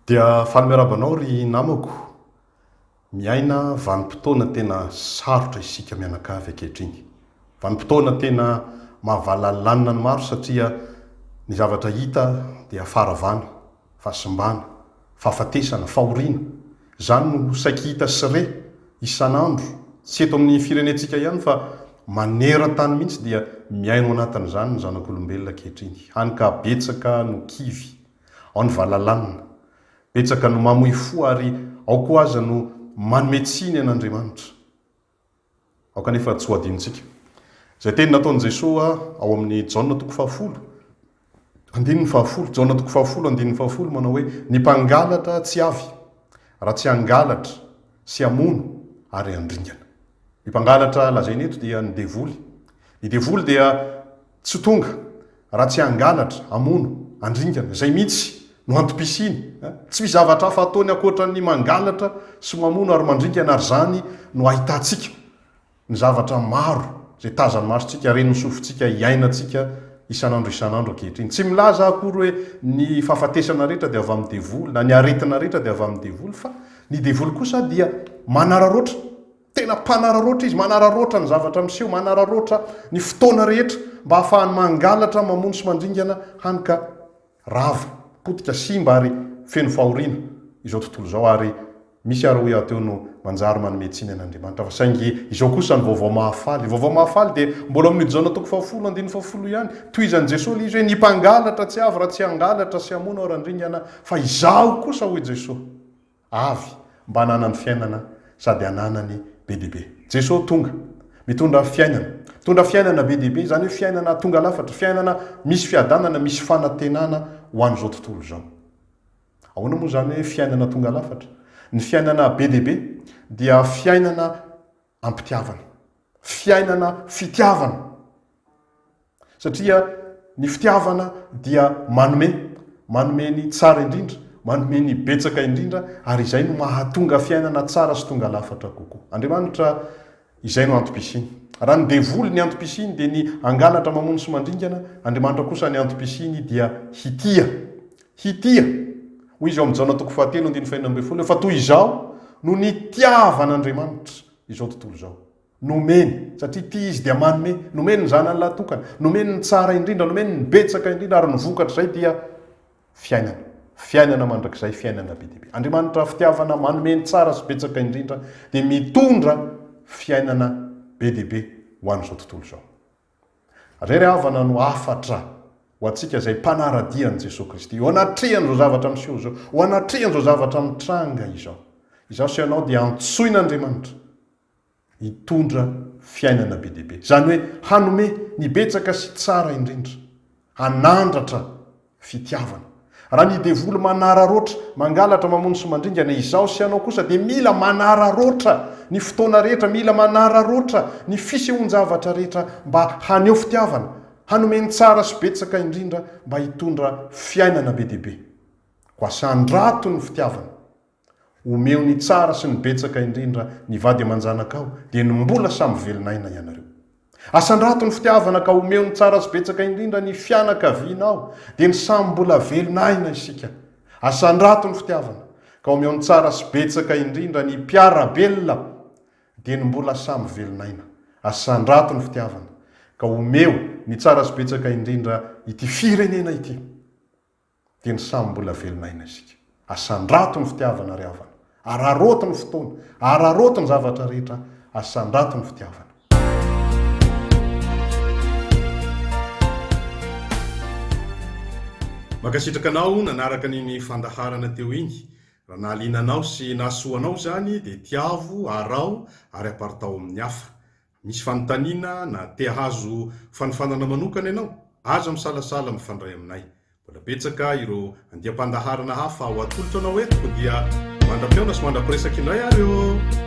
Dia faly miarahaba anao ry namako. Miaina vanim-potoana tena sarotra isika mianakavy ankehitriny. Vanim-potoana tena mahavalalanina ny maro satria ny zavatra hita dia faharavana, fahasimbana, fahafatesana, fahoriana. Izany no saiky hita sy re isan'andro, tsy eto amin'ny firenentsika ihany fa maneran-tany mihitsy dia mihaino anatin'izany ny zanak'olombelona ankehitriny. Hany ka betsaka no kivy. Ao ny valalanina. Betsaka no mamoy fo ary ao koa aza no manome tsiny an' Andriamanitra. Ao kanefa tsy ho adinontsika. Izay teny nataon'i Jesoa ao amin'ny Jaona toko fahafolo, andininy fahafolo, Jaona toko fahafolo, andininy fahafolo, manao hoe, Ny mpangalatra tsy avy, raha tsy hangalatra sy hamono ary handringana. Ny mpangalatra lazaina eto dia ny devoly. Ny devoly dia. Tsy tonga raha tsy hangalatra, hamono, handringana. Izay mihitsy no antom-pisiany. Tsy misy zavatra hafa ataony ankoatra ny mangalatra sy mamono ary mandringana ary izany no ahitantsika ny zavatra maro izay tazan'ny masontsika, ren'ny sofintsika, iainantsika isan'andro isan'andro ankehitriny. Tsy milaza aho akory hoe ny fahafatesana rehetra dia avy amin'ny devoly na ny aretina rehetra dia avy amin'ny devoly fa ny devoly kosa dia manararaotra. Tena mpanararaotra izy, manararaotra ny zavatra miseho, manararaotra ny fotoana rehetra mba hahafahany mangalatra, mamono sy mandringana hany ka rava, potika, simba ary feno fahoriana izao tontolo izao ary misy ary hoy aho teo no manjary manome tsiny an'Andriamanitra fa saingy izao kosa ny vaovao mahafaly, vaovao mahafaly dia mbola amin'io Jaona toko fahafolo andininy fahafolo ihany, tohizan'i Jesoa ilay izy hoe ny mpangalatra tsy avy raha tsy hangalatra sy hamono aho randringana fa izaho kosa hoy Jesoa. Avy, mba hananany fiainana sady hananany be dia be. Jesoa tonga, mitondra fiainana. Mitondra fiainana be dia be, izany hoe fiainana tonga lafatra, fiainana misy fiadanana, misy fanantenana ho an'izao tontolo izao. Ahoana moa izany hoe fiainana tonga lafatra? Ny fiainana be dia be dia fiainana am-pitiavana. Fiainana fitiavana. Satria ny fitiavana dia manome. Manome ny tsara indrindra, manome ny betsaka indrindra, ary izay no mahatonga fiainana tsara sy tonga lafatra kokoa. Andriamanitra, izay no antom-pisiany. Raha ny devoly ny antom-pisiany dia ny hangalatra, mamono sy mandringana, Andriamanitra kosa ny antom-pisiany dia hitia. Hitia, hoy izy ao amin'ny Jaona toko fahatelo andininy fahenina ambin'ny folo, fa toy izao no nitiavan'Andriamanitra izao tontolo izao. Nomeny, satria tia Izy dia manome, nomeny ny Zanany lahatokana, nomeny ny tsara indrindra, nomeny ny betsaka indrindra, ary ny vokatr'izay dia fiainana, fiainana mandrakizay, fiainana be dia be. Andriamanitra fitiavana, manome ny tsara sy betsaka indrindra, dia mitondra fiainana be dia be ho an'izao tontolo izao. Irery havana no hafatra ho antsika izay mpanara-dia an'i Jesoa Kristy. Ho anatrehan'izao zavatra miseho izao, ho anatrehan'izao zavatra mitranga izao, izaho sy ianao dia antsoin'Andriamanitra hitondra fiainana be dia be, izany hoe hanome ny betsaka sy tsara indrindra. hanandratra fitiavana. Raha ny devoly manararaotra, mangalatra, mamono sy mandringana, izaho sy ianao kosa dia mila manararaotra ny fotoana rehetra, mila manararaotra ny fisehoan-javatra rehetra mba haneho fitiavana, hanome ny tsara sy betsaka indrindra mba hitondra fiainana be dia be. Koa sandrato ny fitiavana. Omeo ny tsara sy ny betsaka indrindra ny vady aman-janakao, dia ny mbola samy velon'aina ianareo. Asandrato ny fitiavana ka omeo ny tsara sy betsaka indrindra ny fianakavianao, dia ny samy mbola velon'aina isika. Asandrato ny fitiavana ka omeo ny tsara sy betsaka indrindra ny mpiara-belona, dia ny mbola samy velon'aina. Asandrato ny fitiavana ka omeo ny tsara sy betsaka indrindra ity firenena ity. dia ny samy mbola velona aina isika. Asandrato ny fitiavana ry havana, araraoty ny fotoana, araraoty ny zavatra rehetra, asandrato ny fitiavana. Mankasitraka anao nanaraka an'iny fandaharana teo iny. Raha nahaliana anao sy nahasoa anao izany dia tiavo, araho ary aparitaho amin'ny hafa. Misy fanontaniana na te hahazo fanofanana manokana ianao? Aza misalasala mifandray aminay. Mbola betsaka ireo andiam-pandaharana hafa ho atolotra anao eto koa dia mandra-pihaona sy mandra-piresaka indray ary ô!